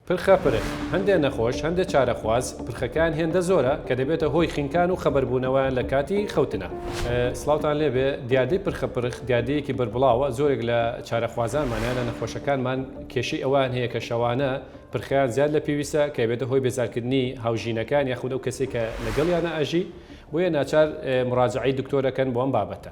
پرخە پرخ، هەندێ نەخۆش، هەندێ چارەخواز، پرخەکەیان هێندە زۆرە کە دەبێتە هۆی خنکان و خەبەربوونەوەیان لە کاتی خەوتنا. سڵاوتان لێ بێ، دیاردەی پرخە پرخ دیاردەیەکی بەربڵاوە، زۆرێک لە چارەخوازانمان یان لە نەخۆشەکانمان کێشەی ئەوەیان هەیە کە شەوانە پرخەیان زیاد لە پێویستە کە ئەبێتە هۆی بێزارکردنی هاوژینەکەیان یاخود ئەو کەسەی کە لەگەڵیانا ئەژی، بۆیە ناچار مراجەعەی دکتۆر ئەکەن بۆ ئەم بابەتە.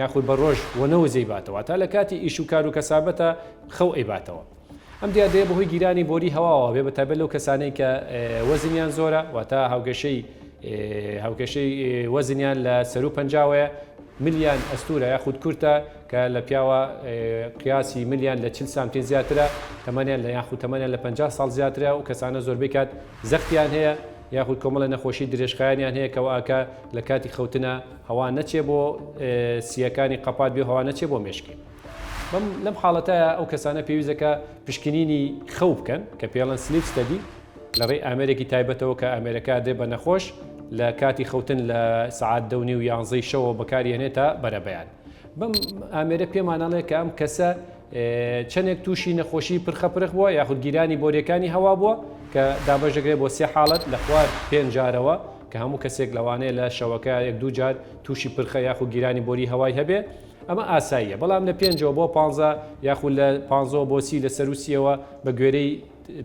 یاخود بە ڕۆژ وەنەوز ئەیباتەوە واتا لە کاتی ئیش و کارو کەسابەتە خەو ئەیباتەوە ئەم دیاردەیە بەهۆی گیرانی بۆری هەواوە بێ بەتایبەت لەو کەسانەی کە وەزنیان زۆرە واتا هاوکێشەی هاوکێشەی وەزنیان لە سەرو پەنجاوەیە ملیان ئەستورە یاخود کورتە کە لە پیاوە قیاسی ملیان لە چل سانتیم زیاترە تەمەنیان لە یاخود تەمەنیان لە 50 ساڵ زیاترە و کەسانە زۆربەی کات زەختیان هەیە یاخود کۆمەڵە نەخۆشی درێژخایەنیان هەیە کەوا کە لە کاتی خەوتنە هەوا نەچێ بۆ سییەکانی قەپات بێ هەوا نەچێ بۆ مێشکی. بەم لەم حاڵەتایە ئەو کەسانە پێویستە کە پشکنینی خەو بکەن کە پێڵەن سلیپ ستەدی لە ڕێی ئامێرێکی تایبەتەوە کە ئامێرەکە دێ بە نەخۆش لە کاتی خەوتن لە سەعات دە و نیو یانزەی شەوە بەکاری هێنێ تا بەرەبەیان بەم ئامێرە پێمانەڵێ کە ئەم کەسە چەندێک تووشی نەخۆشی پرخە پرخ بووە یاخود گیرانی بۆریەکانی هەوا بووە کە دابەش دەکرێت بۆ سێ حاڵەت لە خوار پێنجارەوە کە هەموو کەسێک لەوانەیە لە شەوەکە یەک دوو جار تووشی پرخە یاخود گیرانی بۆری هەوای هەبێ، ئەمە ئاساییە، بەڵام لە پێنجەوە بۆ پانزە یاخود لە پانزەوە بۆ سی لە سەروسییەوە بە گوێرەی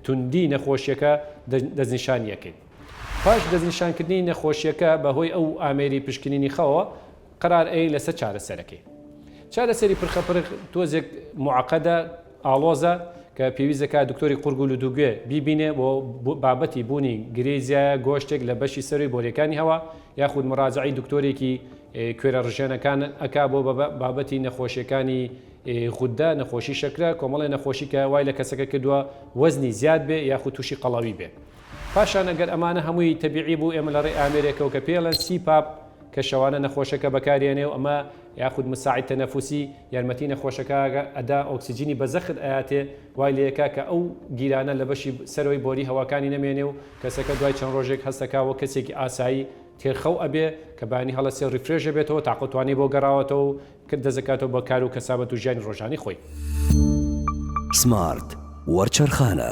توندی نەخۆشییەکە دەستنیشانییەکەین. پاش دەستنیشانکردنی نەخۆشییەکە بە هۆی ئەو ئامێری پشکنینی خەوەوە، قەرار ئەیەی لەسەر چارەسەرەکەی. چارەسەری پرخە پرخ تۆزێک موعەقەدە، ئاڵۆزە، کە پێویست دەکات دکتۆری قورگ و لوتوگوێ بیبینێ بۆ بابەتی بوونی گرێی زیایە گۆشتێک لە بەشی سەرووی بۆریەکانی هەوا، یاخود مراجەعەی دکتۆرێکی کوێرە ڕژێنەکان ئەکا بۆ بابەتی نەخۆشیەکانی غودە، نەخۆشی شەکرە، کۆمەڵێ نەخۆشی کە وای لە کەسەکە کردووە وەزنی زیاد بێ یاخود تووشی قەڵەوی بێ. پاشان ئەگەر ئەمانە هەمووی تەبیعی بوو ئێمە لەڕێی ئامێرێکەوە کە پێی ئەڵێن سی پاپ، کە شەوانە نەخۆشەکە بەکاریانێ و ئەمە یاخود مساعد تنفسی یارمەتی نەخۆشەکاگە ئەدا ئۆکسجینی بە زەخت ئەیاتێ وای لێکا کە ئەو گیرانە لە بەشی سەرەوەی بۆری هەواکانی نەمێنێ و کەسەکە دوای چەند ڕۆژێک هەستەکا وەک کەسێکی ئاسایی تێر خەو ئەبێ کە بەیانی هەڵەسێ و ڕیفرێش ئەبێتەوە تاقە و توانای بۆ گەڕاوەتەوە و کە دەست ئەکاتەوە بە کار و کەسابەت و ژیانی ڕۆژانەی خۆی. سمارت وەرچەرخانە.